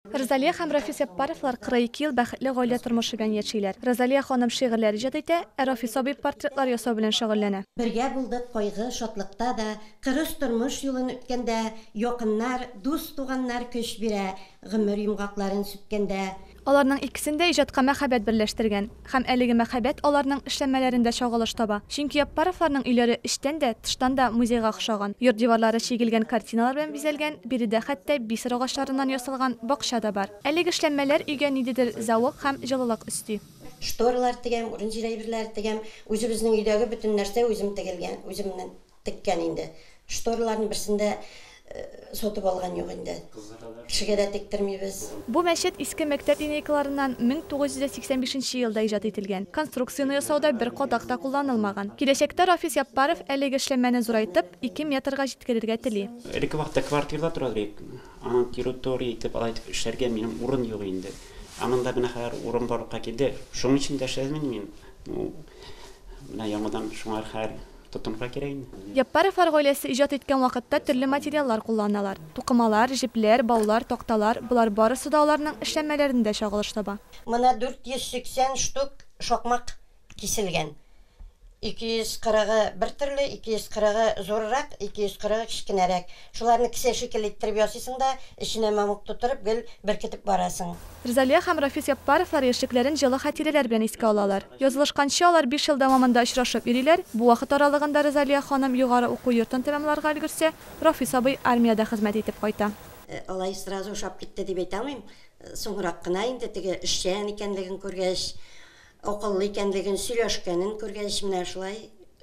Рзалия һәм Рафис Яппаровлар 42 ел бәхетле гаилә тормышы белән яшиләр. Рзалия ханым шигырьләр иҗат итә, ә Рафис абый портретлар ясау белән шөгыльләнә. Бергә булдык кайгы, шатлыкта да, Кырыс тормыш юлын үткәндә, Якыннар, дус-туганнар көч бирә, Гомер йомгакларын сүткәндә. Аларның икесен дә иҗатка мәхәббәт берләштергән. Һәм әлеге мәһабәт аларның эшләнмәләрендә чагылыш таба. Чөнки Яппаровларның өйләре эчтән дә, тыштан да музейга охшаган. Йорт диварлары чигелгән картиналар белән бизәлгән, биредә хәтта бисер агачларыннан ясалган бакча да бар. Әлеге эшләнмәләр өйгә ниндидер зәвык һәм җылылык өсти. Шторалар тегәм, урын-җир әйберләре тегәм. Үзебезнең өйдәге бөтен нәрсә үзем тегелгән, үземнең. Теккән инде. Штораларның берсен дә сатып алган юк инде. Кешегә дә тектермибез. Бу мәчет иске мәктәп линейкаларыннан 1985 нче елда иҗат ителгән. Конструкцияне ясауда бер кадак та кулланылмаган. Киләчәктә Рафис Яппаров әлеге эшләнмәне зурайтып, ике метрга җиткерергә тели. Элекке вакытта квартирада тора идек. Аның территория итеп, алай итеп эшләргә минем урын юк инде. Ә монда менә хәзер урын барлыкка килде. Шуның өчен дә эшләдем инде мин. Менә яңадан шуңар хәл. Тотынырга кирәк инде. Яппаровлар гаиләсе иҗат иткән вакытта төрле материаллар кулланалар. Тукымалар, җепләр, баулар, такталар, болар барысы да аларның эшләнмәләрендә чагылыш таба. Монда 480 штук шакмак киселгән. 240-ы бер төрле, 240-ы зуррак, 240-ы кечкенәрәк. Шуларны кесә шикелле иттереп ясыйсың да, эченә мамык тутырып, гел беркетеп барасың. Рзалия һәм Рафис Яппаровлар яшьлекләрен җылы хатирәләр белән искә алалар. Язылышканчы, алар биш ел дәвамында очрашып йөриләр, бу вакыт аралыгында Рзалия ханым югары уку йортын тәмамларга өлгерсә, Рафис абый армиядә хезмәт итеп кайта. Алай сразу ошап китте дип әйтә алмыйм. Соңрак кына инде теге эшчән икәнлеген күргәч, Акыллы икәнлеген, сөйләшкәнен күргәч, менә шулай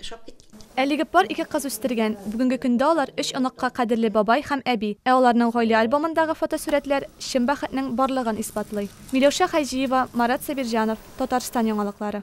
ошап киткән. Әлеге пар ике кыз үстергән. Бүгенге көндә алар, өч оныкка кадерле бабай һәм әби. Ә аларның гаилә альбомындагы фотосурәтләр чын бәхетнең барлыгын исбатлый. Миләүшә Хаҗиева, Марат Сабирҗанов, Татарстан яңалыклары.